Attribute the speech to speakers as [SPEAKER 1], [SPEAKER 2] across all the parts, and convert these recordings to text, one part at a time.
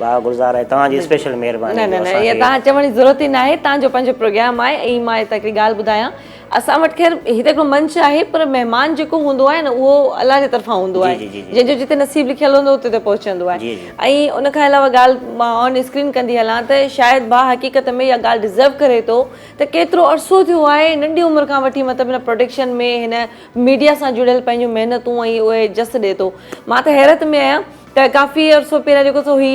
[SPEAKER 1] واهه گلزار آهي توهان جي اسپيشل مهرباني جو اسان کي. نه نه نه توهان چوڻ
[SPEAKER 2] جي ضرورت ئي ناهي تان جو پنهنجو پروگرام آهي ۽ مان هتان هڪڙي ڳالهه ٻڌايان اسان وٽ خير هي ته هڪڙو منچ آهي پر مهمان جيڪو هوندو آهي نه اهو الله جي طرفان هوندو آهي جنهن جو جتي نصيب لکيل هوندو اتي ته پهچندو آهي ۽ ان کان علاوه ڳالهه مان آن اسڪرين ڪندي هلان ته شايد ڀا حقيقت ۾ اها ڳالهه ڊزرو ڪري ٿو ته ڪيترو عرصو ٿيو آهي ننڍي عمر کان وٺي مطلب هن پروڊڪشن ۾ هن ميڊيا سان جڙيل پنهنجون محنتون ۽ اهي جس ڏي ٿو مان ته حيرت ۾ آهيان ته ڪافي عرصو پهريان جيڪو سو هي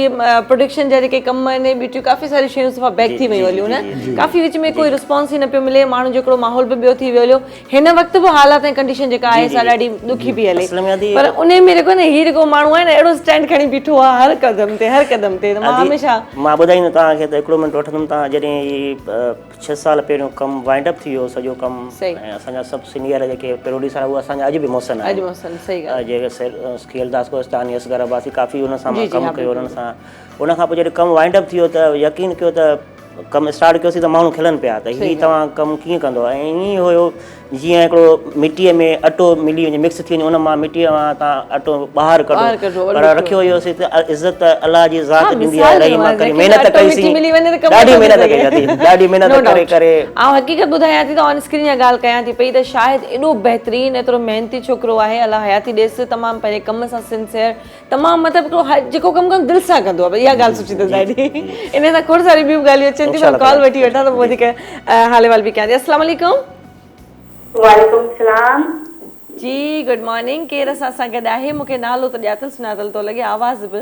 [SPEAKER 2] پروڊڪشن جا جيڪي ڪم آهن هي ٻيٽيون ڪافي ساريون شيون صفا بيڪ ٿي ويون هليون نه ڪافي وچ ۾ ڪوئي رسپانس ئي نه پيو ملي ماڻهن جو هڪڙو ماحول به ٻيو ٿي ويو هليو هن وقت به حالات ۽ ڪنڊيشن جيڪا آهي سا ڏاڍي ڏکي پي هلي پر ان ۾ جيڪو نه هي جيڪو ماڻهو آهي نه اهڙو اسٽينڊ کڻي بيٺو آهي هر قدم تي هر قدم تي مان هميشه مان ٻڌائيندو توهان کي
[SPEAKER 1] ته هڪڙو منٽ وٺندم توهان جڏهن هي ڇهه سال پهريون ڪم وائنڊ اپ ٿي ويو سڄو ڪم ۽ اسان جا سڀ سينئر جيڪي پروڊيوسر آهن اهي اسان جا اڄ به محسن آهن جيڪي خيلداس ڪوهستاني اصغر عباسي ڪافي انهن سان ڪم ڪيو انهن سان ان کان پوء جڏهن ڪم وائنڊ اپ ٿي ويو ته يقين ڪيو ته ڪم اسٽارٽ ڪيوسين ته ماڻهو کلن پيا ته هي توهان ڪم ڪيئن ڪندو ۽ ائين ئي هيو جيئن هڪڙو مٽيء ۾ اٽو ملي وڃي مڪس ٿي وڃي ان مان مٽيء مان تان اٽو ٻاهر ڪڍو ٻاهر ڪڍو پر وري رکيو اهو سي ته عزت ته الله جي ذات ها ڏيندي آهي مثال رحيم ڏنو آهي ڪريم محنت اٽو ڪئي سي مٽي ملي وڃي ته ڪم ڏاڍي نٿو ٿي محنت ڪئي سگهي اٿئي ڏاڍي محنت نو ڪري ڊائوٽ ڪري آئون حقيقت ٻڌايان
[SPEAKER 2] ٿي ته آن اسڪرين جا ڳالهه ڪيان ٿي پئي ته شاهد ايڏو بهترين ايترو محنتي ڇوڪرو آهي الله حياتي ڏيس تمام پنهنجي ڪم سان سنسيئر تمام مطلب هڪڙو هاء جيڪو ڪم ڪندو دل سان ڪندو آهي اها ڳالهه سٺي اٿس ڏاڍي ان سان کوڙ ساري ٻيون ڳالهيون اچن ٿيون پر ڪال وٺي وٺان ته پوء وڌيڪ حال احوال به ڪيان ٿي السلام عليڪم وعليڪم
[SPEAKER 3] السلام جي
[SPEAKER 2] گڊ مارننگ ڪير اسان سان گڏ آهي مون کي نالو ته ڄاتل سڃاتل ٿو لڳي آواز به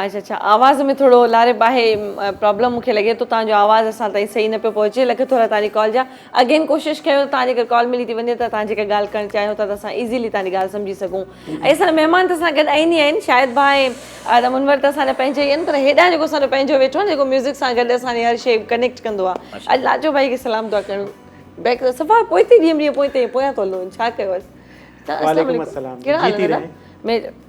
[SPEAKER 2] اچ اڇا آواز ۾ ٿورو لاري باهي پرابلم مون کي لڳي ٿو تهان جو آواز اسان تائين صحيح نه پيو پهچي لک ٿورا تهان جي ڪال جا اگين ڪوشش ڪيو ته تهان جي ڪر ڪال ملي ٿي وڃي ته تهان جيڪا ڳالهه ڪرڻ چاهيو ٿا ته اسان ايزيلي تهان جي ڳالهه سمجهي سگهون ۽ اسان جا مهمان ته اسان گڏ آهن ئي آهن شاهد ڀا ۽ منور ته اسان جا پنهنجا ئي آهن پر هيڏانهن جيڪو اسان جو پنهنجو ويٺو آهي جيڪو ميوزڪ سان گڏ اسان جي هر شي ڪنيڪٽ ڪندو آهي اڄ لاجو ڀائي کي سلام دعا ڪرڻ بيڪ صفا پوئتي ڏينهن ڏينهن پوئتي پويان ٿو هلون ڇا ڪيو اسان وعليڪم السلام جيتي رهي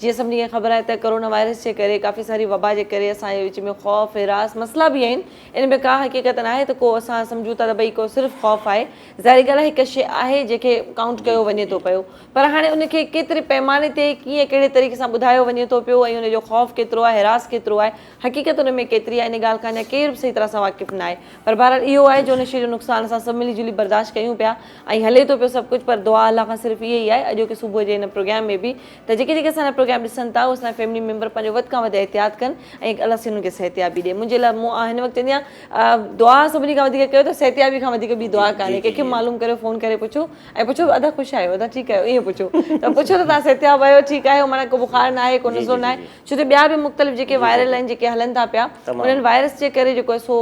[SPEAKER 2] جيئن سڀني کي خبر آهي ته ڪورونا وائرس جي ڪري ڪافي ساري وبا جي ڪري اسان جي وچ ۾ خوف، هراس مسئلا به آهن ان ۾ ڪا حقيقت ناهي ته ڪو اسان سمجهون ٿا ته بئي ڪو صرف خوف آهي ظاهري ڳالهه هڪ شيء آهي جنهن کي ڪائونٽ ڪيو وڃي ٿو پيو پر هاڻي ان کي ڪيتري پئماني تي ڪيئن ڪهڙي طريقي سان ٻڌايو وڃي ٿو پيو ۽ ان جو خوف ڪيترو آهي هراس ڪيترو آهي حقيقت ان ۾ ڪيتري آهي ان ڳالهه کان اڃا ڪير به صحيح طرح سان واقف ناهي پر بهرحال اهو آهي جو ان شيء جو نقصان اسان سڀ ملي جلي برداشت ڪيون پيا ۽ هلي ٿو پيو سڀ ڪجهه پر دعا الله کان صرف اهي ئي آهي اڄوڪي صبح جي ان پروگيام ۾ به ته جيڪي جيڪي اسان جا پروگرام ڏسن ٿا اهي اسان جا فيملي ميمبر پنهنجو وڌ کان وڌ احتياط ڪن ۽ الله سائين انهن کي صحتيابي ڏي منهنجي لاء مون هن وقت چوندي آهيان دعا سڀني کان وڌيڪ ڪيو ته صحتيابي کان وڌيڪ ٻي دعا ڪانهي ڪنهن کي معلوم ڪريو فون ڪري پڇو ۽ پڇو ادا خوش آهيو ادا ٺيڪ آهيو ائين پڇو ته پڇو ته تهان صحتياب آهيو ٺيڪ آهيو معنيٰ ڪو بخار نه آهي ڪو نزلو نه آهي ڇو ته ٻيا به مختلف جيڪي وائرل آهن جيڪي هلن ٿا پيا انهن وائرس جي ڪري جيڪو سو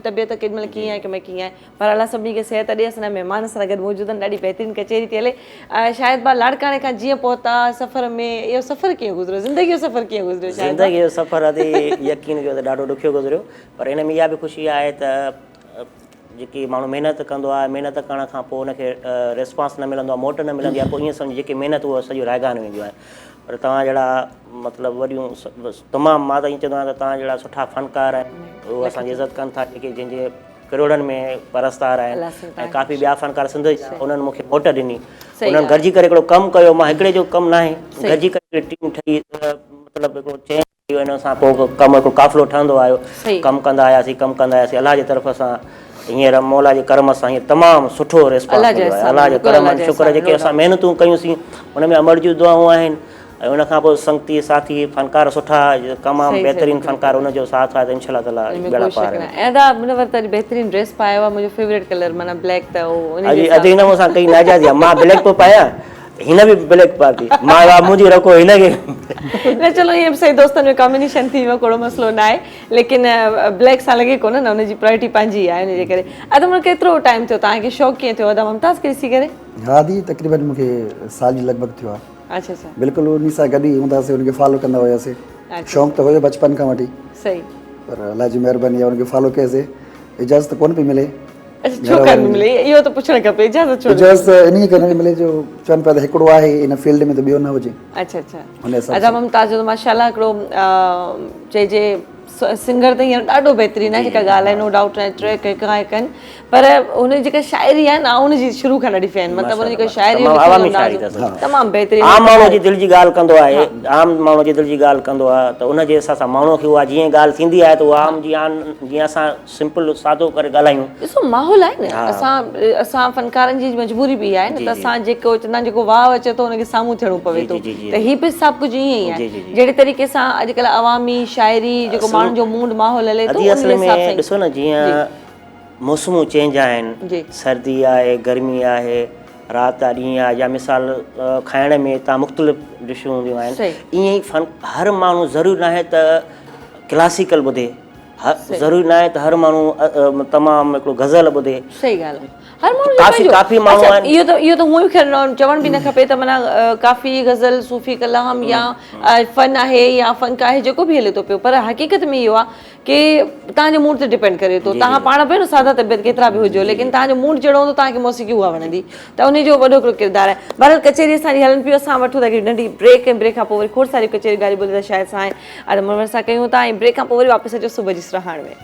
[SPEAKER 2] طبيعت ڪيڏي مهل ڪيئن آهي ڪيڏي مهل ڪيئن آهي پر الله سڀني کي صحت ڏي اسان جا مهمان اسان سان گڏ موجود آهن ڏاڍي بهترين ڪچهري ٿي هلي شاهد ڀاء لاڙڪاڻي کان جيئن پهتا سفر ۾ اهو سفر ڪيئن گذريو زندگي جو سفر ڪيئن گذريو شاهد ڀاء زندگي جو سفر ادي
[SPEAKER 1] يقين ڪيو ته ڏاڍو ڏکيو گذريو پر هن ۾ اها به خوشي آهي ته جيڪي ماڻهو محنت ڪندو آهي محنت ڪرڻ کان پوء ان کي ريسپانس نه ملندو آهي موٽ نه ملندي آهي پوء ائين سمجهه جيڪي محنت هو سڄي رائگان وينديون آهن پر توهان جهڙا مطلب وڏيون تمام مان ته ائين چوندو آهيان ته توهان جهڙا سٺا فنڪار اهو اسان جي عزت ڪن ٿا جيڪي جنهن جي ڪروڙن ۾ پرستار آهن ۽ ڪافي ٻيا فنڪار سنڌ جا انهن مون کي موٽ ڏني انهن گڏجي ڪري هڪڙو ڪم ڪيو مان هڪڙي جو ڪم ناهي گڏجي ڪري هڪڙي ٽيم ٺهي مطلب هڪڙو چين ٺهي ويو ان سان پوء ڪم هڪڙو قافلو ٺهندو آيو ڪم ڪندا آياسين ڪم ڪندا آياسين الله جي طرف سان هينئر مولا جي ڪرم سان هينئر تمام سٺو ريسپانس مليو آهي الله جي ڪرم ۽ شڪر جيڪي اسان محنتون ڪيون سين ان ۾ امڙ جون دعائون آهن ۽ ان کان پوء سنگتي ساٿي فنڪار سٺا تمام بهترين فنڪار ان جو ساٿ آهي ته انشاء الله تعالٰي ٻيڙا پار آهن. ادا ان وقت اڄ
[SPEAKER 2] بهترين ڊريس پايو آ منهنجو فيوريٽ ڪلر معنيٰ بليڪ ته هو ان جي حساب سان. اڄ هن مون سان
[SPEAKER 1] ڪئي ناجائزي آ مان بليڪ پيو پايان هن به بليڪ پاتي مان چيو آ منهنجي رکو هن کي. نه چلو
[SPEAKER 2] ائين به صحيح دوستن ۾ ڪامبينيشن ٿي ويو ڪهڙو مسئلو ناهي ليڪن بليڪ سان لڳي ڪونه نه ان جي پرايرٽي پنهنجي آهي ان جي ڪري ادا مون ڪيترو ٽائيم ٿيو توهان کي شوق ڪيئن ٿيو ادا ممتاز کي ڏسي ڪري. هادي تقريبن
[SPEAKER 4] مون کي سال جي لڳ ڀڳ ٿيو آ. بلڪل انهي
[SPEAKER 2] سان گڏ ئي هوندا
[SPEAKER 4] سي ان کي فالو ڪندا هيا سي شوق ته هيو بچپن کان وٺي پر
[SPEAKER 2] الله جي
[SPEAKER 4] مهرباني ان کي فالو ڪئي سي اجازت ڪونه پئي ملي ڇو ڪانه پئي
[SPEAKER 2] ملي اهو ته پڇڻ کپي اجازت ڇو اجازت انهي ڪري نٿي
[SPEAKER 4] ملي جو چون پيا ته هڪڙو آهي ان فيلڊ ۾ ته ٻيو نه هجي اڇا
[SPEAKER 2] اڇا ادا ممتاز جو ته ماشاءالله هڪڙو چئجي سنگر ته هينئر ڏاڍو بهترين آهي جيڪا ڳالهه آهي نو ڊائوٽ ٽريڪ هڪ کان هڪ آهن پر هن جي جيڪا شاعري آهي نه آئون هن جي شروع کان ڏاڍي فين مطلب هن جي جيڪا شاعري آهي عوامي شاعري اٿس تمام بهترين عام ماڻهو جي دل جي ڳالهه
[SPEAKER 1] ڪندو آهي عام ماڻهو جي دل جي ڳالهه ڪندو آهي ته ان جي حساب سان ماڻهو کي اها جيئن ڳالهه ٿيندي آهي ته اها عام جي آن جيئن اسان سمپل سادو ڪري ڳالهايون ڏسو ماحول آهي نه
[SPEAKER 2] اسان اسان فنڪارن جي مجبوري به اها آهي نه ته اسان جيڪو چوندا آهن جيڪو واء اچي ٿو ان کي سامهون ٿيڻو پوي ٿو ته هي به سڀ ڪجهه ائين ئي آهي جهڙي طريقي سان اڄڪلهه عوامي شاعري جيڪو ماڻهن جو موڊ ماحول هلي ٿو ان حساب سان ڏسو نه
[SPEAKER 1] جيئن موسمون چينج آهن سردي آهي گرمي آهي رات آهي ڏينهن آهي يا مثال کائڻ ۾ هتان مختلف ڊشون هونديون آهن ائين ئي فن هر ماڻهو ضروري ناهي ته ڪلاسيڪل ٻڌي ضروري ناهي ته هر ماڻهو تمام هڪڙو غزل ٻڌي صحيح ڳالهه
[SPEAKER 2] هر ماڻهو ڪافي ڪافي ماڻهو آهن اهو
[SPEAKER 1] ته اهو ته هونئن خيال
[SPEAKER 2] چوڻ به نه کپي ته معنيٰ ڪافي غزل صوفي ڪلام يا فن آهي يا فنڪ آهي جيڪو به هلي ٿو پيو پر حقيقت ۾ اهو آهي کي توهان جي موڊ تي ڊپينڊ ڪري ٿو توهان پاڻ ڀيڻ سادا طبيعت ڪيترا به هجو ليڪن توهان جو موڊ جهڙو هوندو توهان کي موسيقي اها وڻندي ته انهي جو وڏو هڪڙو ڪردار آهي بهرحال ڪچهري اسان جي هلن پيو اسان وٺون ٿا هڪڙي ننڍي بريڪ ۽ بريڪ کان پوء وري کوڙ ساريون ڪچهريون ڳالهيون ٻولهيون ته شايد سائين آدم منور سان ڪيون ٿا ۽ بريڪ کان پوء وري واپس اچو صبح جي سرهاڻ ۾.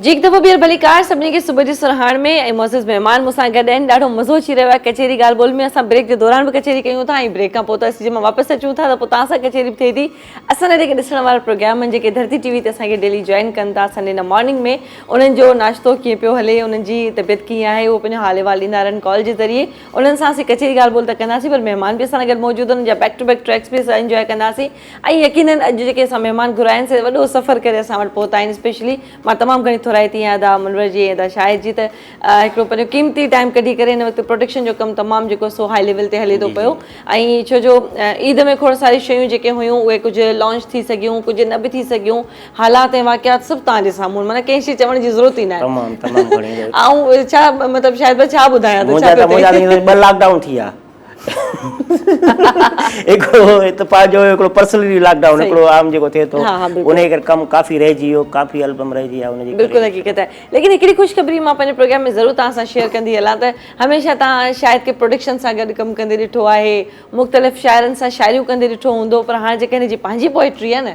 [SPEAKER 2] جي هڪ دفعو ٻيهر ڀليڪار سڀني کي صبح جي سرهاڻ ۾ ۽ معزز مهمان مون سان گڏ آهن ڏاڍو مزو اچي رهيو آهي ڪچهري ڳالهه ٻولهه ۾ اسان بريڪ جي دوران به ڪچهري ڪيون ٿا ۽ بريڪ کان پوء ته اسين جي مان واپس اچون ٿا ته پوء توهان سان ڪچهري به ٿئي ٿي اسان جا جيڪي ڏسڻ وارا پروگرام آهن جيڪي ڌرتي ٽي وي تي اسان کي ڊيلي جوائن ڪن ٿا سنڊي نه مارننگ ۾ انهن جو ناشتو ڪيئن پيو هلي انهن جي طبيعت ڪيئن آهي اهو پنهنجو حال احوال ڏيندا رهن ڪال جي ذريعي انهن سان اسين ڪچهري ڳالهه ٻولهه ته ڪنداسين پر مهمان به اسان سان گڏ موجود هوندا جا بيڪ ٽو بيڪ ٽريڪس به اسان انجواء ڪنداسين ۽ يقينن اڄ جيڪي اسان مهمان گهرايا آهن سي وڏو سفر ڪري اسان وٽ پهتا آهن اسپيشلي مان تمام گهڻي ٿورائتي آهيان ادا منور جي ۽ ادا شاهد جي ته هڪڙو پنهنجو قيمتي ٽائيم ڪڍي ڪري هن وقت پروڊڪشن جو ڪم تمام جيڪو سو هائي ليول تي هلي ٿو پيو ۽ ڇو جو عيد ۾ کوڙ ساري شيون جيڪي هيون اهي ڪجهه لانچ ٿي سگهيون ڪجهه نه به ٿي سگهيون حالات ۽ واقعات سڀ توهان جي سامهون معنيٰ ڪنهن شي چوڻ جي ضرورت ئي ناهي تمام تمام گهڻي آئون ڇا مطلب شاهد ڀاء ڇا ٻڌايان ته ڇا ٿو ٿئي منهنجا ته ٻه لاڪ
[SPEAKER 1] ڊائون ٿي ويا هڪڙو هت پنهنجو هيو هڪڙو پرسنلي لاڪ ڊائون هڪڙو عام جيڪو ٿئي ٿو انهي ڪري ڪم ڪافي رهجي ويو ڪافي البم رهجي ويا ان جي ڪري بلڪل حقيقت آهي ليڪن
[SPEAKER 2] هڪڙي خوشخبري مان پنهنجي پروگرام ۾ ضرور توهان سان شيئر ڪندي هلان ته هميشه توهان شاهد کي پروڊڪشن سان گڏ ڪم ڪندي ڏٺو آهي مختلف شاعرن سان شاعريون ڪندي ڏٺو هوندو پر هاڻ جيڪا هن جي پنهنجي پوئٽري آهي نه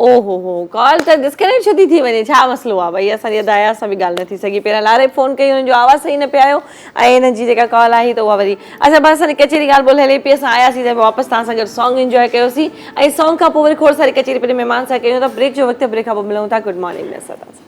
[SPEAKER 2] او هو هو ڪال ته ڊسڪنيڪٽ ڇو ٿي ٿي وڃي ڇا مسئلو آ ڀئي اسان جي ادا اياز سان به ڳالهه نه ٿي سگهي پهريان لاري فون ڪئي هن جو آواز صحيح نه پي آيو ۽ هن جي جيڪا ڪال آهي ته اها وري اچا بس اسان جي ڪچهري ڳالهه ٻولهه هلي پئي اسان آياسين ته واپس توهان سان گڏ سانگ انجواء ڪيوسين ۽ سانگ کان پوء وري کوڙ ساري ڪچهري پنهنجي مهمان سان ڪيون ٿا بريڪ جو وقت آهي بريڪ کان پوء ملون ٿا گڊ مارننگ ۾ اسان سان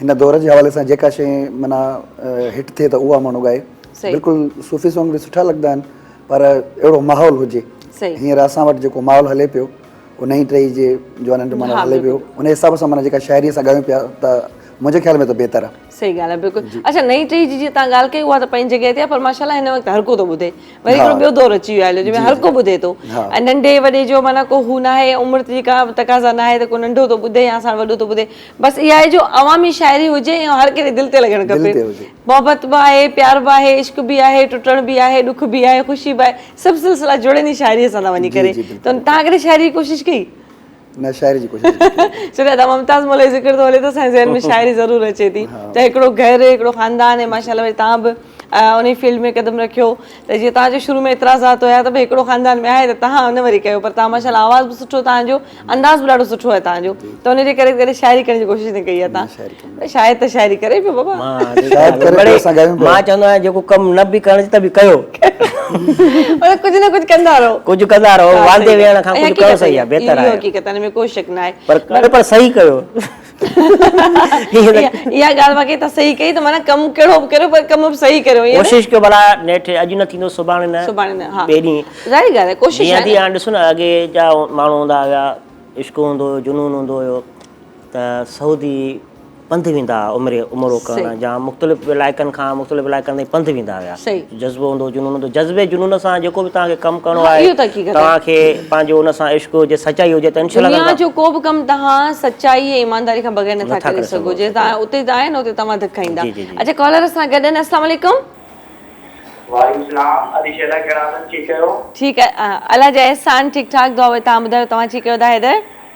[SPEAKER 4] هن دور
[SPEAKER 2] جي حوالي
[SPEAKER 4] سان جيڪا شئي معنيٰ هٽ ٿئي ته اها ماڻهو ڳائي. بلڪل صوفي سانگ به سٺا لڳندا آهن پر اهڙو ماحول هجي. هينئر اسان وٽ جيڪو ماحول هلي پيو اهو نئين ٽهي جي جوانن جو ماحول هلي پيو ان حساب سان معنيٰ جيڪا شاعري اسان ڳايون پيا ته منهنجي خيال ۾ ته بهتر آهي. صحيح ڳالهه آهي بلڪل اڇا
[SPEAKER 2] نئين ٽهي جي جيئن تهان ڳالهه ڪئي اها ته پنهنجي جڳهه تي آهي پر ماشاءالله هن وقت هر ڪو ٿو ٻڌي وري هڪڙو ٻيو دور اچي ويو آهي جنهن ۾ هر ڪو ٻڌي ٿو ۽ ننڍي وڏي جو معنيٰ ڪو هو ناهي عمر جي ڪا تقاضا ناهي ته ڪو ننڍو ٿو ٻڌي يا اسان وٽ وڏو ٿو ٻڌي. بس اها آهي جو عوامي شاعري هجي ۽ هر ڪنهن جي دل تي لڳڻ کپي. محبت به آهي، پيار به آهي، عشق به آهي، ٽٽڻ به آهي، ڏک به آهي، خوشي به آهي، سڀ سلسلا جڙن ئي شاعريء سان ٿا وڃي ڪري. ته توهان ڪڏهن شاعري جي ڪوشش ڪئي؟ نه شاعري جي
[SPEAKER 4] ڪوشش نه ڪئي. سوريا دا ممتاز
[SPEAKER 2] مولوي جي ذڪر ٿو هلي ته اسان جي ذهن ۾ شاعري ضرور اچي ٿي. ته هڪڙو گهر، هڪڙو خاندان ۽ ماشاءالله وري توهان به. انهيء فيلڊ ۾ قدم رکيو ته جيئن توهان جو شروع ۾ اعتراضات هيا ته ڀئي هڪڙو خاندان ۾ آهي ته توهان ان وري ڪيو پر توهان ماشاءالله آواز به سٺو توهان جو انداز به ڏاڍو سٺو آهي توهان جو ته ان جي ڪري ڪڏهن شاعري ڪرڻ جي ڪوشش نه ڪئي آهي توهان شاعر ته شاعري ڪري پيو بابا
[SPEAKER 1] مان چوندو آهيان جيڪو ڪم نه به ڪرڻ ته به ڪيو
[SPEAKER 2] مطلب ڪجهه نه ڪجهه ڪندا رهو ڪجهه ڪندا رهو واندي ويهڻ کان ڪجهه ڪيو
[SPEAKER 1] صحيح آهي بهتر آهي اهو حقيقت آهي ان ۾ ڪو شڪ نه
[SPEAKER 2] آهي پر صحيح ڪيو اها ڳالهه واقعي تان صحيح ڪئي ته معنيٰ ڪم ڪهڙو به ڪريو پر ڪم به صحيح ڪريو ائين نه. ڪوشش ڪيو ڀلا
[SPEAKER 1] نيٺ اڄ نه ٿيندو سڀاڻي نه سڀاڻي نه ها ٻئي ڏينهن ظاهري ڳالهه آهي
[SPEAKER 2] ڪوشش جيئن آهي ٿي نه. هاڻ ڏسو نه اڳي
[SPEAKER 1] جا ماڻهو هوندا هيا عشق هوندو هيو جنون هوندو هيو ته سعودي پنڌ ويندا هئا عمري عمرو ڪرڻ صحيح جا مختلف علائقن کان مختلف علائقن تائين پنڌ ويندا هيا. صحيح. جذبو هوندو جنون هوندو جذبي جنون سان جيڪو به توهان کي ڪم ڪرڻو آهي توهان کي پنهنجو ان سان عشق هجي سچائي هجي ته انشاء الله دنيا جو ڪو به ڪم
[SPEAKER 2] توهان سچائي ۽ ايمانداري کان بغير نٿا ڪري سگهو جي توهان اتي آهي نه اتي توهان ڌڪ کائيندا اچا ڪالر اسان سان گڏ آهن السلام عليڪم. وعليڪم السلام
[SPEAKER 5] ادي شهدا ڪهڙا حال اٿن ٺيڪ ڪيو. ٺيڪ
[SPEAKER 2] الاجا احسان ٺيڪ ٺاڪ دعا وي توهان ٻڌايو توهان ٺيڪ ڪيو ادا حيدر.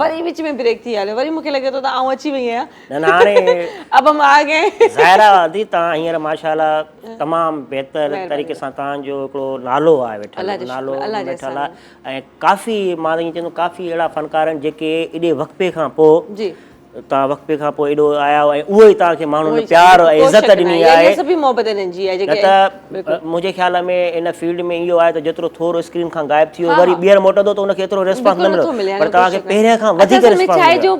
[SPEAKER 2] وري وچ ۾ بريڪ ٿي هليو وري مونکي لڳي ٿو ته آئون اچي وئي آهيان نه نه هاڻي اب هم آگئي ظاهر آهي آنٽي توهان
[SPEAKER 1] هينئر ماشاءالله تمام بهتر طريقي سان توهان جو هڪڙو نالو آهي ويٺل نالو ويٺل آهي ۽ ڪافي مان ته ائين چوندم ڪافي اهڙا فنڪار آهن جيڪي ايڏي وقفي کان پوء جي توهان وقفي کان پوء ايڏو آيا آهيو ۽ اهو ئي توهان کي ماڻهن پيار ۽ عزت ڏني آهي سڀ ئي محبت هنن جي آهي جيڪي منهنجي خيال ۾ ان فيلڊ ۾ اهو آهي ته جيترو ٿور اسڪرين کان غائب ٿي ويو وري ٻيهر موٽندو ته ان کي ايترو ريسپانس نه ملندو پر توهان کي پهرين کان وڌيڪ ريسپانس ملندو اصل ۾ ڇاهي جو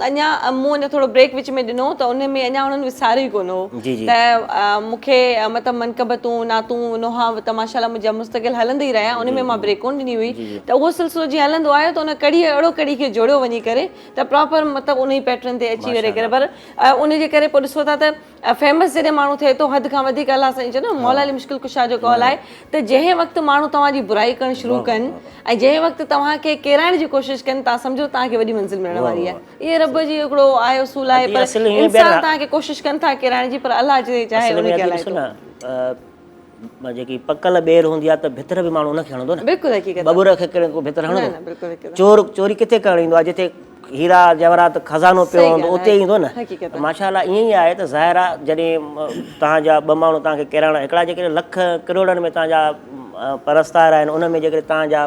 [SPEAKER 1] اڃا
[SPEAKER 2] مون اڃا ٿورو بريڪ وچ ۾ ڏنو ته ان ۾ اڃا انهن وساريو ئي ڪونه هو ته مون کي مطلب منقبتون نعتون نوحا ته ماشاءالله منهنجا مستقل هلندا ئي رهيا ان ۾ مان بريڪ ڪونه ڏني هئي ته اهو سلسلو جيئن هلندو آيو ته ان ڪڙي اهڙو ڪڙي کي جوڙيو وڃي ڪري ته پراپر مطلب ان ئي پيٽرن تي اچي وڃي ڪري پر ان جي ڪري پوء ڏسو ٿا ته فيمس جڏهن ماڻهو ٿئي ٿو حد کان وڌيڪ الله سائين چيو نه مولا علي مشڪل ڪشا جو قول آهي ته جنهن وقت ماڻهو توهان جي برائي ڪرڻ شروع ڪن ۽ جنهن وقت توهان کي ڪيرائڻ جي ڪوشش ڪن توهان سمجهو توهان کي وڏي منزل ملڻ واري آهي اهي رب جي هڪڙو آهي اصول آهي پر انسان توهان کي ڪوشش ڪن ٿا ڪيرائڻ جي پر الله جي چاهي انهي کي هلائي ٿو جيڪي پڪل
[SPEAKER 1] ٻير هوندي آهي ته ڀتر به ماڻهو ان کي هڻندو نه بلڪل حقيقت ٻٻر کي
[SPEAKER 2] ڪير ڀتر
[SPEAKER 1] هڻندو چور چوري ڪٿي ڪرڻ ايندو آهي جتي هيرا جواهرات خزانو پيو هوندو اتي ئي ايندو نه حقيقت ماشا الله ائين ئي آهي ته ظاهر آهي جڏهن توهان جا ٻه ماڻهو توهان کي ڪيرائڻا هڪڙا جيڪڏهن لک ڪروڙن ۾ توهان جا پرستار آهن ان ۾ جيڪڏهن توهان جا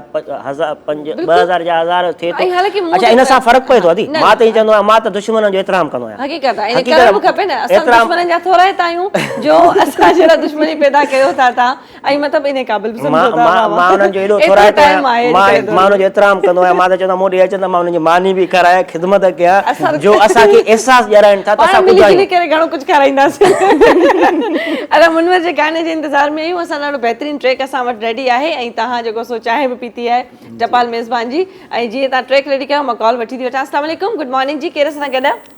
[SPEAKER 1] هزار پنج ٻه هزار جا هزار ٿئي ٿو اڇا ان سان فرق پوي ٿو ادي مان ته ائين چوندو آهيان مان ته دشمنن جو احترام ڪندو آهيان حقيقت آهي ڪرڻ به کپي
[SPEAKER 2] نه اسان دشمنن جا ٿورائتا آهيون جو اسان جهڙا دشمني پيدا ڪيو ٿا تان ۽ مطلب انهي قابل به سمجهو ٿا مان مان انهن جو ايڏو ٿورائتو
[SPEAKER 1] آهيان مان مان انهن جو احترام ڪندو آهيان مان ته چوندو آهيان مون ڏي اچن ته مان انهن جي ماني به کارايان خدمت ڪيان جو اسان کي احساس ڏيارائين ٿا ته اسان ٻڌايون پاڻ ملي جلي ڪري گهڻو ڪجهه
[SPEAKER 2] کارائينداسين ادا منور جي گاني جي انتظار ۾ آهيون اسان ڏاڍو بهترين ٽريڪ اسان وٽ ريڊي آهي ۽ تهان جيڪو سو چانهه به پيتي آهي ٽپال ميزبان جي ۽ جيئن تهان ٽريڪ ريڊي ڪيو مان ڪال وٺي ٿي وٺان السلام عليڪم گڊ مارننگ جي ڪير اسان سان گڏ آهي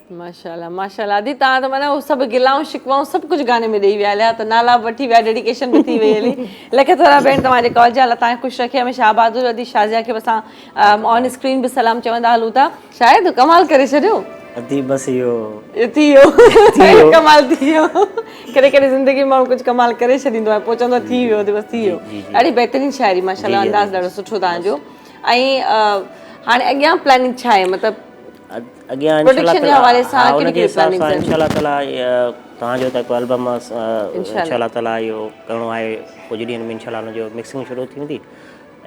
[SPEAKER 3] ماشاءالله
[SPEAKER 2] ماشاءالله ادي تان ته معنيٰ سڀ گلائون شڪوائون سڀ ڪجهه گاني ۾ ڏيئي ويا عليا ته نالا به وٺي ويا ڊيڊيڪيشن به ٿي وئي علي لکي ٿورا بهن توهان جي ڪالجا الله تان خوش رکي هميشه آباد هجو ادي شازيا کي به اسان آن اسڪرين به سلام چوندا هلون ٿا شاهد تو ڪمال ڪري ڇڏيو ادي بس اهو
[SPEAKER 1] اهو
[SPEAKER 2] ٿي ويو اهو ڪمال ٿي ويو ڪڏهن ڪڏهن زندگي ماڻهو ڪجهه ڪمال ڪري ڇڏيندو آهي پوء چوندو آهي ٿي ويو ادي بس ٿي ويو ڏاڍي بهترين شاعري ماشاءالله انداز ڏاڍو سٺو توهان جو ۽ هاڻي اڳيان پلاننگ ڇا آهي مطلب اڳيان
[SPEAKER 1] انشاءالله تعالي
[SPEAKER 2] ان جي حساب سان انشاءالله تعالي
[SPEAKER 1] توهان جو تڪو البم انشاءالله تعالي اهو ڪرڻو آهي ڪجهه ڏينهن ۾ انشاءالله ان جو مڪسنگ شروع ٿي ويندي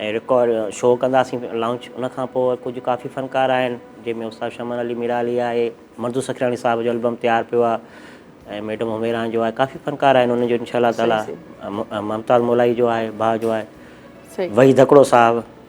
[SPEAKER 1] ۽ رڪارڊ شو ڪنداسين لانچ ان کان پوء ڪجهه ڪافي فنڪار آهن جنهن ۾ استاد شمن علي ميرالي آهي مردو سکرياڻي صاحب جو البم تيار پيو آهي ۽ ميڊم هميران جو آهي ڪافي فنڪار آهن ان جو انشاءالله تعالي ممتاز مولائي جو آهي ڀاء جو آهي وحيد هڪڙو صاحب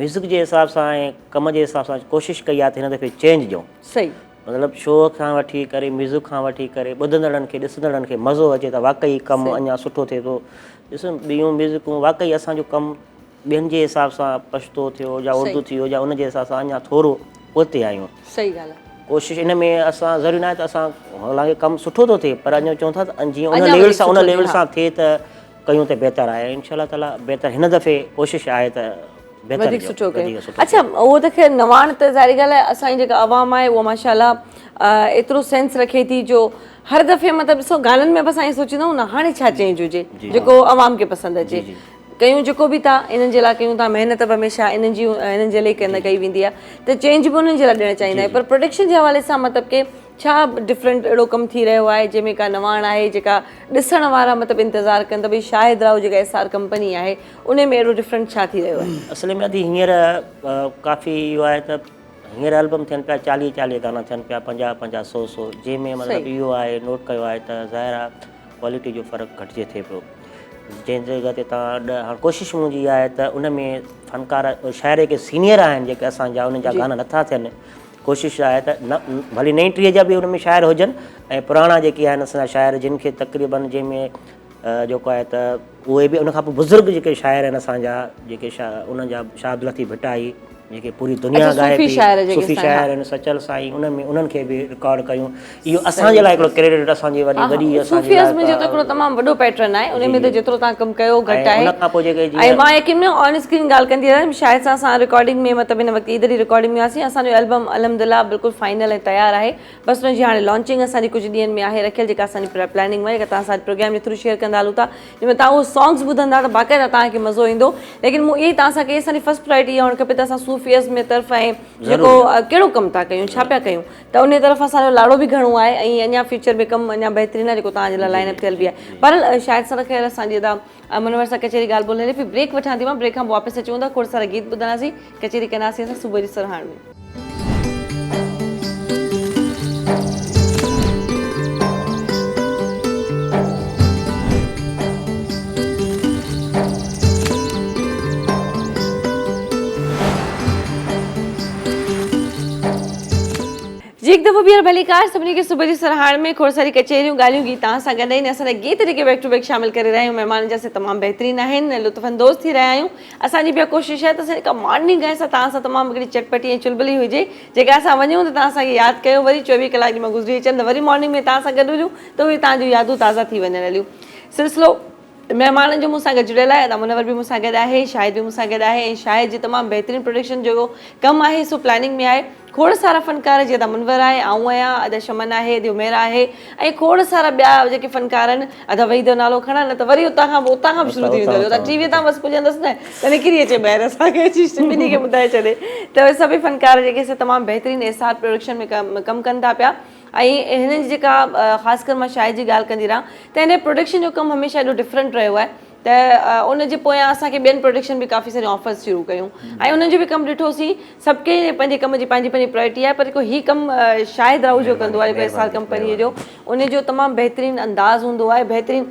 [SPEAKER 1] ميوزڪ جي حساب سان ۽ ڪم جي حساب سان ڪوشش ڪئي آهي ته هن دفعي چينج ڏيون صحيح مطلب
[SPEAKER 2] شو
[SPEAKER 1] کان وٺي ڪري ميوزڪ کان وٺي ڪري ٻڌندڙن کي ڏسندڙن کي مزو اچي ته واقعي ڪم اڃا سٺو ٿئي ٿو ڏس ٻيون ميوزڪون واقعي اسان جو ڪم ٻين جي حساب سان پشتو ٿيو يا اردو ٿي ويو يا ان جي حساب سان اڃا ٿورو پوئتي آهيون صحيح ڳالهه آهي
[SPEAKER 2] ڪوشش ان ۾ اسان
[SPEAKER 1] ضروري ناهي ته اسان حالانڪه ڪم سٺو ٿو ٿئي پر اڃا چون ٿا ته جيئن ان ليول سان ان ليول سان ٿئي ته ڪيون ته بهتر آهي انشاء الله تعالٰي بهتر هن دفعي ڪوشش آهي ته بهتر وڌيڪ سٺو
[SPEAKER 2] ڪيون وڌيڪ سٺو اڇا اهو ته خير نواڻ ته ظاهري ڳالهه آهي اسان جي جيڪا عوام آهي اها ماشاء الله ايترو سينس رکي ٿي جو هر دفعي مطلب ڏسو گانن ۾ به اسان ائين سوچيندا آهيون نه هاڻي ڇا چينج هجي جيڪو عوام کي پسند اچي ڪيون جيڪو به ٿا انهن جي لاء ڪيون ٿا محنت به هميشه انهن جي انهن جي لاء ڪئي ويندي آهي ته چينج به انهن جي لاء ڏيڻ چاهيندا آهيون پر پروڊڪشن جي حوالي سان مطلب ڪي ڇا ڊفرنٽ اهڙو ڪم ٿي رهيو آهي جنهن ۾ ڪا نواڻ آهي جيڪا ڏسڻ وارا مطلب انتظار ڪن ته ڀئي شاهد راهو جيڪا ايس آر ڪمپني آهي ان ۾ اهڙو ڊفرنٽ ڇا ٿي رهيو آهي. اصل ۾ ادي هينئر
[SPEAKER 1] ڪافي اهو آهي ته هينئر البم ٿين پيا چاليهه چاليهه گانا ٿين پيا پنجاهه پنجاهه سو سو جنهن ۾ مطلب اهو آهي نوٽ ڪيو آهي ته ظاهر آهي ڪوالٽي جو فرق گهٽجي ٿئي پيو جنهن جڳهه تي تان ڏهه هاڻ ڪوشش منهنجي اها آهي ته ان ۾ فنڪار شاعري کي سينئر آهن جيڪي اسان جا ان جا گانا نٿا ٿين ڪوشش آهي ته ڀلي نئين ٽھيء جا به ان ۾ شاعر ھجن ۽ پراڻا جيڪي آھن اسان جا شاعر جن کي تقريباً جنھن ۾ جيڪو آھي ته اھي به ان کان پوء بزرگ جيڪي شاعر آھن اسان جا جيڪي انھن جا شاھ عبدالحفيظ ڀٽائي جيڪي پوري دنيا ڳائي پئي صوفي شاعر آھن سچل سائين ان ۾ انھن کي به رڪارڊ ڪيون اهو اسان جي لاء هڪڙو ڪريڊٽ اسان جي وڏي وڏي اسان جي صوفي ازم جو ته
[SPEAKER 2] هڪڙو تمام وڏو پيٽرن آهي ان ۾ ته جيترو تان ڪم ڪيو گهٽ آهي ان کان پوء جيڪي جي ۽ مان يقين ۾ آن اسڪرين ڳالهه ڪندي رهيم شاهد سان اسان رڪارڊنگ ۾ مطلب هن وقت عيد جي رڪارڊنگ ۾ هئاسين اسان جو البم الحمدلله بلڪل فائنل ۽ تيار آهي بس ان جي هاڻي لانچنگ اسان جي ڪجهه ڏينهن ۾ آهي رکيل جيڪا اسان جي پلاننگ ۾ جيڪا توهان سان پروگرام جي ٿرو شيئر ڪندا هلون ٿا جنهن ۾ توهان اهو سانگز ٻڌندا ته باقاعده توهان کي مزو ايندو ليڪن مون اهي توهان سان ڪئي اسان جي فرسٽ پرائرٽي اها هئڻ کپي ته اسان صوفي ازم جي طرف ۽ جيڪو ڪهڙو ڪم ٿا ڪيون ڇا پيا ڪيون ته انهيء طرف اسان جو لاڙو به گهڻو آهي ۽ اڃا فيوچر ۾ ڪم اڃا بهترين آهي جيڪو توهان جي لاء لائن اپ ٿيل به آهي. بهرحال شايد سر خير اسان جي ادا منور سان ڪچهري ڳالهه ٻولهه هلي پئي بريڪ وٺان ٿي مان بريڪ کان پوء واپس اچون ٿا کوڙ سارا گيت ٻڌنداسين ڪچهري ڪنداسين اسان صبح جي سرهاڻ ۾. جي هڪ دفعو ٻيهر ڀليڪار سڀني کي صبح جي سرهاڻ ۾ کوڙ ساري ڪچهريون ڳالهيون گيتان سان گڏ ۽ اسان جا گيت جيڪي بيڪ ٽو بيڪ شامل ڪري رهيا آهيون مهمانن جا سي تمام بهترين آهن ۽ لطف اندوز ٿي رهيا آهيون اسان جي به اها ڪوشش آهي ته اسان جي ڪا مارننگ آهي سا توهان سان تمام هڪڙي چٽ پٽي ۽ چلبلي هجي جيڪا اسان وڃون ته توهان اسان کي ياد ڪيو وري چويهه ڪلاڪ ڄما گذري اچن ته وري مارننگ ۾ توهان سان گڏ هجون ته اهي توهان جون يادون تازا ٿي وڃن هليون سلسلو مهمانن جو مون سان گڏجڙيل آهي ادا منور به مون سان گڏ آهي شاهد به مون سان گڏ آهي ۽ شاهد جي تمام بهترين پروڊڪشن جو ڪم آهي سو پلاننگ ۾ آهي کوڙ سارا فنڪار جي ادا منور آهي آئون آهيان ادا شمن آهي ادي عميرا آهي ۽ کوڙ سارا ٻيا جيڪي فنڪار آهن ادا وحيد جو نالو کڻان نه ته وري اتان کان اتان کان به شروع ٿي ويندو ادا ٽي وي تان بس پڄندس نه ته نڪري اچي ٻاهر اسان کي اچي ٻنهي کي ٻڌائي ڇڏي ته سڀئي فنڪار جيڪي سي تمام بهترين ايسار پروڊڪشن ۾ ڪم ڪن ٿا پيا ۽ هنن جي جيڪا خاص ڪر مان شاهد جي ڳالهه ڪندي رهان ته هن جي پروڊڪشن جو ڪم هميشه ايڏو ڊفرنٽ رهيو آهي ته ان جي پويان اسان کي ٻين پروڊڪشن به ڪافي ساريون آفرز شروع ڪيون ۽ انهن جو به ڪم ڏٺوسين سڀ ڪنهن جي پنهنجي ڪم جي پنهنجي پنهنجي پرايرٽي آهي پر جيڪو هي ڪم شاهد راهوجو ڪندو آهي جيڪو ايس آر ڪمپني جو ان جو تمام بهترين انداز هوندو آهي بهترين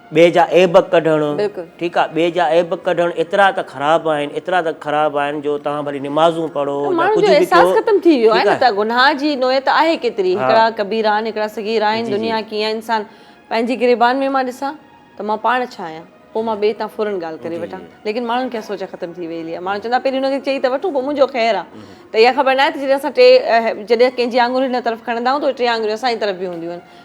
[SPEAKER 1] ٻئي جا عيب ڪڍڻ ٺيڪ آ ٻئي جا عيب ڪڍڻ ايترا ته خراب آهن ايترا ته خراب آهن جو توهان ڀلي نمازون پڙهو يا ڪجهه به ڪيو ٺيڪ آ ته
[SPEAKER 2] گناهه جي نوعيت آهي ڪيتري هڪڙا ڪبيرا آهن هڪڙا صغيرا آهن دنيا ڪيئن آ انسان پنهنجي گريبان ۾ مان ڏسان ته مان پاڻ ڇا آهيان پوء مان ٻئي تان فورن ڳالهه ڪري وٺان ليڪن ماڻهن کي اها سوچ ختم ٿي ويئلي آهي ماڻهو چوندا پهرين ان کي چئي ته وٺون پوء منهنجو خير آ ته اها خبر ناهي ته جڏهن اسان ٽي جڏهن ڪنهن جي آڱري هن طرف کڻندا آهيون ته ٽي آڱريون اسان جي طرف به هونديون آهن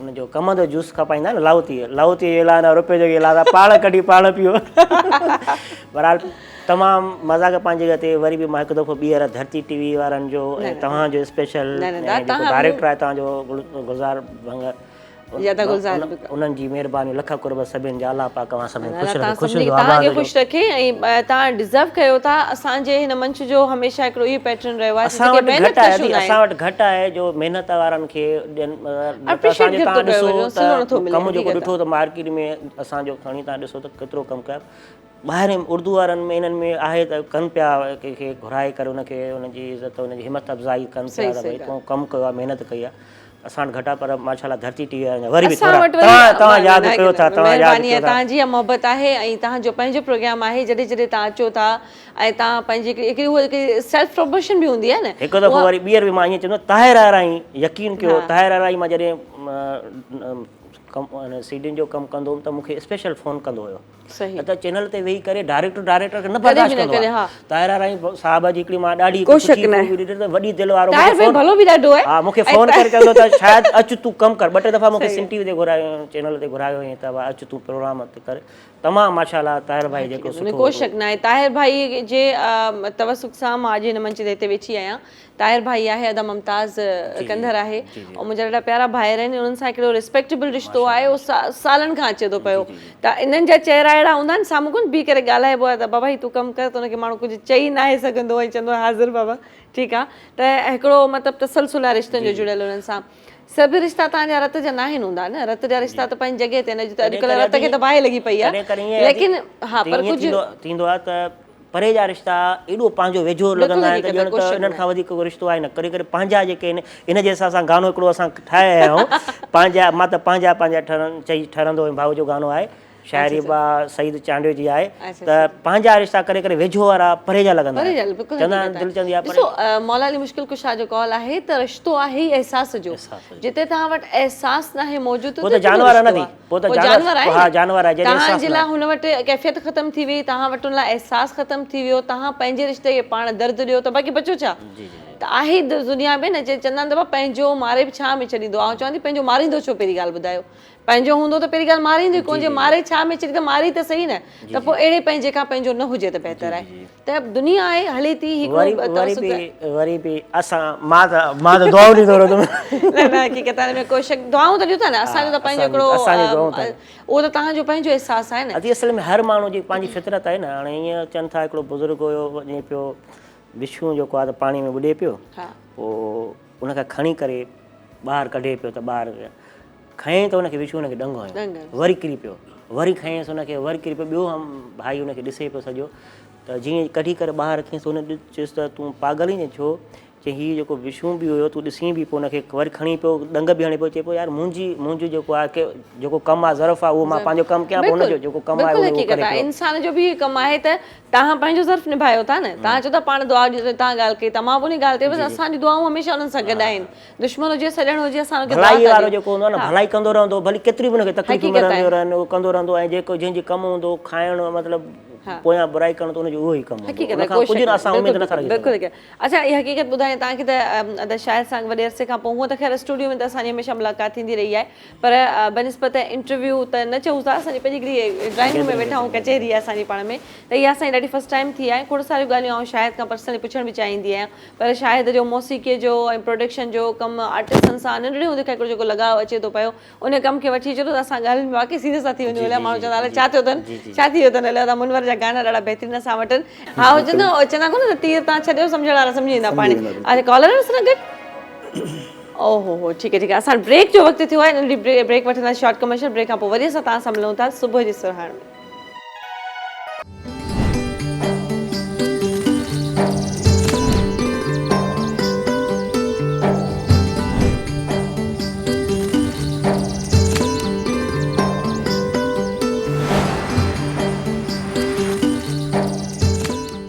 [SPEAKER 1] ان جو ڪم ته جوس کپائيندا آهن لاهوتي لاهوتي جي لاء نه روپيو جوڳي لاء پاڻ ڪڍي پاڻ پيو بهرحال تمام مذاق پنهنجي جڳهه تي وري به مان هڪ دفعو ٻيهر ڌرتي ٽي وي وارن جو ۽ توهان جو اسپيشل ڊائريڪٽر آهي توهان جو گلزار ڀنگ انهن جي مهرباني لک قرب سڀن جا الله پاڪ اوهان سڀني خوش رکي خوش رکي توهان
[SPEAKER 2] کي خوش رکي ۽ توهان ڊيزرو ڪيو ٿا اسان جي هن منچ جو هميشه هڪڙو اهو پيٽرن رهيو آهي اسان وٽ گهٽ آهي اسان وٽ
[SPEAKER 1] گهٽ آهي جو محنت وارن کي اسان جو ڏسو ته ڪم جيڪو ڏٺو ته مارڪيٽ ۾ اسان جو کڻي تان ڏسو ته ڪيترو ڪم ڪيا ٻاهرين اردو وارن ۾ انهن ۾ آهي ته ڪن پيا ڪنهن کي گهرائي ڪري ان کي ان جي عزت ان جي همٿ افزائي ڪن پيا ته ڀائی تون ڪم ڪيو محنت ڪئي آهي اسان وٽ گهٽ آهي پر ماشاءالله ڌرتي ٽي وي وارن وري به ٿورا تان ياد ڪيو ٿا تان ياد ڪيو ٿا مهرباني آهي تان جي
[SPEAKER 2] محبت آهي ۽ تان جو پنهنجو پروگرام آهي جڏهن جڏهن تان اچو ٿا ۽ تان پنهنجي هڪڙي هڪڙي هو هڪڙي سيلف پروموشن به هوندي آهي نه. هڪ دفعو وري ٻيهر به مان
[SPEAKER 1] ائين چوندو طاهر آرائين يقين ڪيو طاهر آرائين مان جڏهن سيڊين جو ڪم ڪندو هوم ته مون کي اسپيشل فون ڪندو هيو صحيح ته چينل تي ويهي ڪري ڊائريڪٽر ڊائريڪٽر کي نه برداشت ڪندو آهي طاهر آرائين صاحب جي هڪڙي مان ڏاڍي ڪو شڪ نه آهي وڏي دل وارو طاهر ڀاء ڀلو به ڏاڍو آهي ها مون کي فون ڪري چوندو ته شاهد اچ تون ڪم ڪر ٻه ٽي دفعا مون کي سنڌ ٽي وي تي گهرايو سينل تي گهرايو هيئن ته اچ تون پروگرام ڪر تمام ماشاء الله طاهر ڀائي جيڪو سٺو هوندو. ڪو شڪ ناهي طاهر
[SPEAKER 2] ڀائي جي توثق سان مان اڄ هن منچ تي هتي ويٺي آهيان طاهر ڀائي آهي ادا ممتاز ڪنڌر آهي ۽ منهنجا ڏاڍا پيارا ڀائر آهن انهن سان هڪڙو ريسپيڪٽيبل رشتو آهي اهو سالن کان اچي ٿو پيو ته انهن جا چهرا اهڙا هوندا آهن سامهون ڪونه بيهي ڪري ڳالهائبو آهي ته بابا هي تون ڪم ڪر ته ان کي ماڻهو ڪجهه چئي ناهي سگهندو ۽ چوندو آهي حاضر بابا ٺيڪ آهي ته هڪڙو مطلب تسلسل آهي رشتن جو جڙيل انهن سان سڀ رشتا تهان جا رت جا ناهن هوندا نه رت جا رشتا ته پنهنجي جڳهه تي آهن اڄ ته اڄڪلهه رت کي ته باهه لڳي پئي آهي ليڪن ها پر ڪجهه ٿيندو آهي ته
[SPEAKER 1] پري جا رشتا ايڏو پنهنجو ويجهو لڳندا آهن ڄڻ ته انهن کان وڌيڪ ڪو رشتو آهي نه ڪري ڪري پنهنجا جيڪي آهن ان جي حساب سان گانو هڪڙو اسان ٺاهي آيا آهيون پنهنجا مان ته پنهنجا پنهنجا ٺهرن چئي ٺهرندو هيم ڀائو جو گانو آهي شاعري اچھا اچھا اها سعيد چانڊيو جي آهي اچھا ته اچھا پنهنجا رشتا ڪڏهن ڪڏهن ويجهو وارا پري جا لڳندا پري آهن. جا بلڪل چوندا حقيقت آهن دل چوندي آهي آهي ڏسو پري مولا علي مشڪل
[SPEAKER 2] ڪشا جو قول آهي ته رشتو آهي ئي احساس جو احساس جو جتي توهان وٽ احساس ناهي موجود پوء ته ته ڪهڙو جانور نه رشتو ٿي آهي پوء ته پوء
[SPEAKER 1] جانور جانور آهي ها نه جانور آهي جڏهن توهان احساس
[SPEAKER 2] جي نه لاء آهي هن وٽ ڪيفيت ختم ٿي وئي توهان وٽ ان لاء احساس ختم ٿي ويو توهان پنهنجي رشتي کي پاڻ درد ڏيو ته باقي بچو ڇا جي جي ته آهي دنيا ۾ نه جي چوندا آهن ته ڀا پنهنجو ماري به ڇا ۾ ڇڏيندو آئون چوان ٿي پنهنجو ماريندو ڇو پهرين ڳالهه ٻڌايو پنهنجو هوندو ته پهرين ڳالهه ماريندو ئي ڪونه جي ماري ڇا ۾ ڇڏي ته ماري ته سهي نه ته پوء اهڙي پنهنجي کان پنهنجو نه هجي ته بهتر آهي ته دنيا آهي هلي ٿي هي وري به
[SPEAKER 1] وري به اسان مان ته مان ته دعائون ڏيندو رهندو نه نه حقيقت
[SPEAKER 2] آهي ۾ ڪو شڪ دعائون ته ڏيون ٿا نه اسان جو ته پنهنجو هڪڙو اسان جي دعائون ته اهو ته تهان جو پنهنجو احساس آهي نه ادي اصل ۾ هر ماڻهو جي
[SPEAKER 1] پنهنجي فطرت آهي نه هاڻي ائين چون ٿا هڪڙو بزرگ هيو وڃي پيو بشو جيڪو آهي ته پاڻي ۾ ٻڏي پيو پوء ان کي کڻي ڪري ٻاهر ڪڍي پيو ته ٻاهر کنئين ته ان کي وڇو ان کي ڏنگ هنيو وري ڪري پيو وري کنئينس ان کي وري ڪري پيو ٻيو هم ڀائي ان کي ڏسي پيو سڄو ته جيئن ڪڍي ڪري ٻاهر رکيس ته ان چيس ته تون پاگل آهين ڇو چي هي جيڪو وشون به هيو تون ڏسين به پو ان کي وري کڻي پيو ڏنگ به هڻي پيو چي پيو يار منهنجي منهنجو جيڪو آهي جيڪو ڪم آهي ظرف آهي اهو مان پنهنجو ڪم ڪيان ان جو جيڪو ڪم آهي اهو ڪري پيو انسان جو به ڪم
[SPEAKER 2] آهي ته تهان پنهنجو ظرف نڀايو ٿا نه تهان چيو ٿا پاڻ دعا ڏيو تهان ڳالهه ڪئي ته مان به ان ڳالهه تي بس اسان جون دعائون هميشه انهن سان گڏ آهن دشمن هجي سڄڻ هجي اسان کي ڀلائي وارو جيڪو هوندو آهي نه
[SPEAKER 1] ڀلائي ڪندو رهندو ڀلي ڪيتريون به هن کي تڪليفون ملنديون رهن هو ڪندو رهندو ۽ جيڪو جنهن جي ڪم هوندو کائڻ مطلب پويان برائي ڪرڻ ته ان جو اهو ئي ڪم هوندو ان کان ڪجهه نه اسان
[SPEAKER 2] اميد نٿا
[SPEAKER 1] رکي سگهون. اچا هي
[SPEAKER 2] حقيقت ٻڌايان تان کي ته ادا شاهد سان وڏي عرصي کان پوء هونئن ته خير اسٽوڊيو ۾ ته اسان جي هميشه ملاقات ٿيندي رهي آهي پر بنسبت انٽرويو ته نه چئون ٿا اسان جي پنهنجي هڪڙي ڊرائنگ روم ۾ ويٺا آهيون ڪچهري آهي اسان جي پاڻ ۾ ته اها اسان جي ڏاڍي فرسٽ ٽائيم ٿي آهي کوڙ ساريون ڳالهيون آئون شاهد کان پرسنلي پڇڻ به چاهيندي آهيان پر شاهد جو موسيقيء جو ۽ پروڊڪشن جو ڪم آرٽسٽن سان ننڍڙي هوندي کان هڪڙو جيڪو لڳاء اچي ٿو پيو، ان ڪم کي وٺي چلو ته اسان ڳالهين ۾ واقعي سيريس ٿا ٿي وڃون. الائي ماڻهو چوندا الائي ڇا ٿيو اٿن، ڇا ٿي ويو اٿن. الائي ادا منور جا گانا ڏاڍا بهترين اسان وٽ آهن. ها هو چوندا هو چوندا ڪونه ته تير تان ڇڏيو سمجهڻ وارا سمجهي ويندا پاڻي. اچ ڪالر هنس نه گڏ. او هو هو ٺيڪ آهي ٺيڪ آهي اسان وٽ بريڪ جو وقت ٿيو آهي ننڍڙي بريڪ وٺنداسين شارٽ ڪمرشل بريڪ کان پوء وري اسان توهان سان ملون ٿا صبح جي سرهاڻ ۾.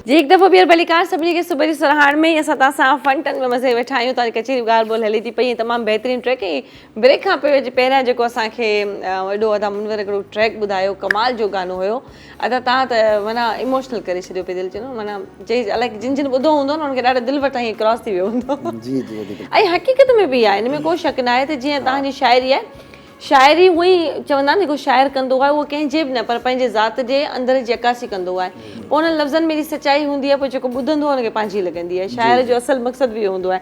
[SPEAKER 2] جي هڪ دفعو ٻيهر ڀليڪار سڀني کي صبح جي سرهاڻ ۾ ۽ اسان تان سان فن ٽن ۾ مزي ويٺا آهيون توهان جي ڪچهري ڳالهه ٻولهه هلي ٿي پئي ۽ تمام بهترين ٽريڪ ۽ بريڪ کان پوء جي پهريان جيڪو اسان کي ايڏو ادا منور هڪڙو ٽريڪ ٻڌايو ڪمال جو گانو هيو ادا تهان ته معنيٰ ايموشنل ڪري ڇڏيو پي دل جنو معنيٰ جي الائي جن جن ٻڌو هوندو نه انهن کي ڏاڍو دل وٽان هي ڪراس ٿي ويو هوندو جي جي جي ۽
[SPEAKER 4] حقيقت ۾ به
[SPEAKER 2] آهي ان ۾ ڪو شڪ ناهي ته جيئن تهان جي شاعري آهي شاعري هو ئي چوندا آهن جيڪو شاعر ڪندو آهي اهو ڪنهن جي به نه پر پنهنجي ذات جي اندر جي عڪاسي ڪندو آهي پوء انهن لفظن ۾ ايڏي سچائي هوندي آهي پوء جيڪو ٻڌندو آهي ان کي پنهنجي لڳندي آهي شاعر جو اصل مقصد به اهو هوندو آهي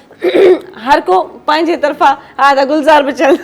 [SPEAKER 2] هر ڪو پنهنجي طرفان ها ته گلزار به چل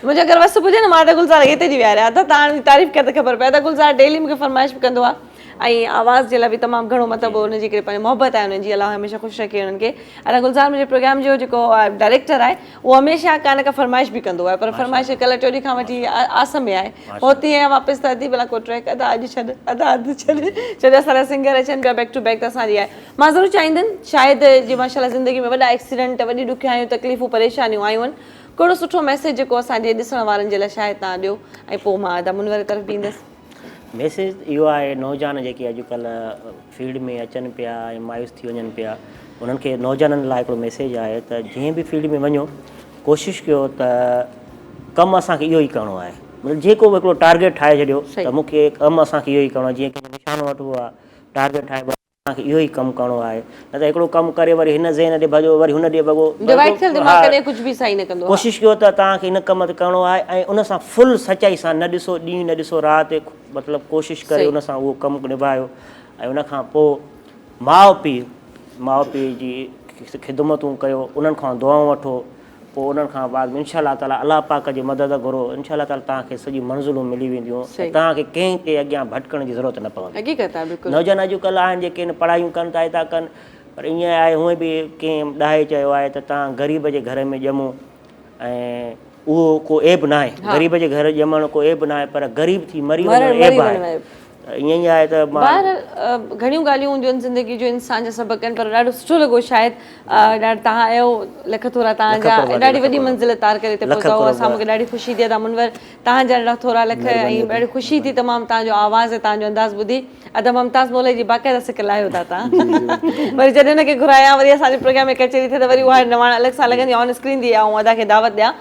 [SPEAKER 2] منهنجو اگر وس پڄي نه مان ته گلزار اڳي تي جي ويهاريان ها ته تان جي تعريف ڪر ته خبر پئي ته گلزار ڊيلي مونکي فرمائش به ڪندو آهي ۽ آواز جي لاء به تمام گهڻو مطلب ان جي ڪري پنهنجي محبت آهي انهن جي الله هميشه خوش رکي انهن کي ادا گلزار منهنجي پروگرام جو جيڪو ڊائريڪٽر آهي اهو هميشه ڪا نه ڪا فرمائش به ڪندو آهي پر فرمائش ڪلهه ٽيو ڏينهن کان وٺي آس ۾ آهي پهتي آهي واپس ته ادي بلا ڪو ٽريڪ ادا اڄ ڇڏ ادا اڌ ڇڏ ڇو جو اسان جا سنگر اچن پيا بيڪ ٽو بيڪ ته اسان جي آهي مان ضرور چاهيندين شايد جي ماشاء الله زندگي ۾ وڏا ايڪسيڊنٽ وڏي ڏکيائيون تڪليفون پريشانيون آيون ڪهڙو سٺو ميسيج جيڪو اسان جي ڏسڻ وارن جي لاء شايد تان ڏيو ۽ پوء مان ادا منور طرف به ايندس. ميسيج ته
[SPEAKER 1] اهو آهي نوجوان جيڪي اڄڪلهه فيلڊ ۾ اچن پيا ۽ مايوس ٿي وڃن پيا انهن کي نوجوانن لاء هڪڙو ميسيج آهي ته جنهن به فيلڊ ۾ وڃو ڪوشش ڪيو ته ڪم اسان کي اهو ئي ڪرڻو آهي مطلب جيڪو به هڪڙو ٽارگيٽ ٺاهي ڇڏيو ته مون کي ڪم اسان کي اهو ئي ڪرڻو آهي جيئن ڪنهن کي نشانو وٺبو آهي ٽارگيٽ ٺاهبو آهي اسان کي اهو ئي ڪم ڪرڻو آهي نه ته هڪڙو ڪم ڪري وري هن ذهن ڏي ڀڄو وري هن ڏي ڀڳو ڊوائيڊ ٿيل دماغ ڪڏهن ڪجهه به صحيح نه ڪندو ها. ڪوشش ڪيو ته توهان کي هن ڪم تي ڪرڻو آهي ۽ ان سان فل سچائي سان نه ڏسو ڏينهن نه ڏسو رات مطلب ڪوشش ڪري صحيح. ان سان اهو ڪم نڀايو ۽ ان کان پوء ماء پيء ماء پيء جي خدمتون ڪيو انهن کان دعائون وٺو پوء انهن کان بعد ۾ انشاء الله تعالي الله پاڪ جي مدد گهرو انشاء الله تعالي توهان کي سڄي منزلون ملي وينديون ۽ توهان کي ڪنهن جي اڳيان ڀٽڪڻ جي ضرورت نه پوندي حقيقت آهي بلڪل نوجوان اڄڪلهه آهن جيڪي نه پڙهايون ڪن ٿا ٿا ڪن پر ائين آهي هونئن به ڪنهن ڏاهي چيو آهي ته توهان غريب جي گهر ۾ ڄمو ۽ اهو ڪو عيب ناهي غريب جي گهر ڄمڻ ڪو عيب ناهي پر غريب ٿي مري وڃڻ عيب آهي ائين ئي آهي ته مان. بهرحال گهڻيون
[SPEAKER 2] ڳالهيون هونديون آهن زندگي جون انسان جا سبق آهن پر ڏاڍو سٺو لڳو شاهد ڏاڍ تهان اهو لک ٿورا تهان جا ڏاڍي وڏي منزل تار ڪري هتي پهتاهو اسان مونکي ڏاڍي خوشي ٿي ادا منور تهان جا ڏاڍا ٿورا لک ۽ ڏاڍي خوشي ٿي تمام تهان جو آواز ۽ تهان جو انداز ٻڌي ادا ممتاز مولوي جي باقاعده سڪ لاهيو ٿا تهان وري جڏهن ان کي گهرايان وري اسان جي پروگرام ۾ ڪچهري ٿئي ته وري اها نواڻ الڳ سان لڳندي آن اسڪرين ٿي آئون ادا کي دعوت ڏيان.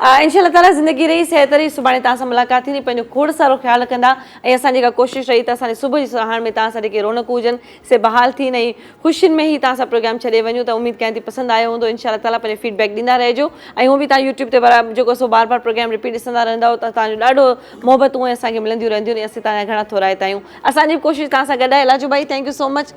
[SPEAKER 2] انشاء الله تعاليٰ زندگي رهي صحت رهي سڀاڻي توهان سان ملاقات ٿيندي پنهنجو کوڙ سارو خيال رکندا ۽ اسان جي اها ڪوشش رهي ته اسان جي صبح جي سرهاڻ ۾ توهان سان جيڪي رونقون هجن سي بحال ٿين ۽ خوشين ۾ هي توهان سان پروگرام ڇڏي وڃون ته اميد ڪيان ٿي پسند آيو هوندو انشاء الله تعاليٰ پنهنجو فيڊ بيڪ ڏيندا رهجو ۽ هونئن به توهان يوٽيوب تي برا جيڪو سو بار بار پروگرام رپيٽ ڏسندا رهندا آهيو ته توهان جو ڏاڍو محبتون اسان کي ملنديون رهنديون آهن ۽ اسين توهان جا گهڻا ٿورائتا آهيون اسان جي به ڪوشش توهان سان گڏ آهي لاجو ڀائي ٿينڪ يو سو مچ.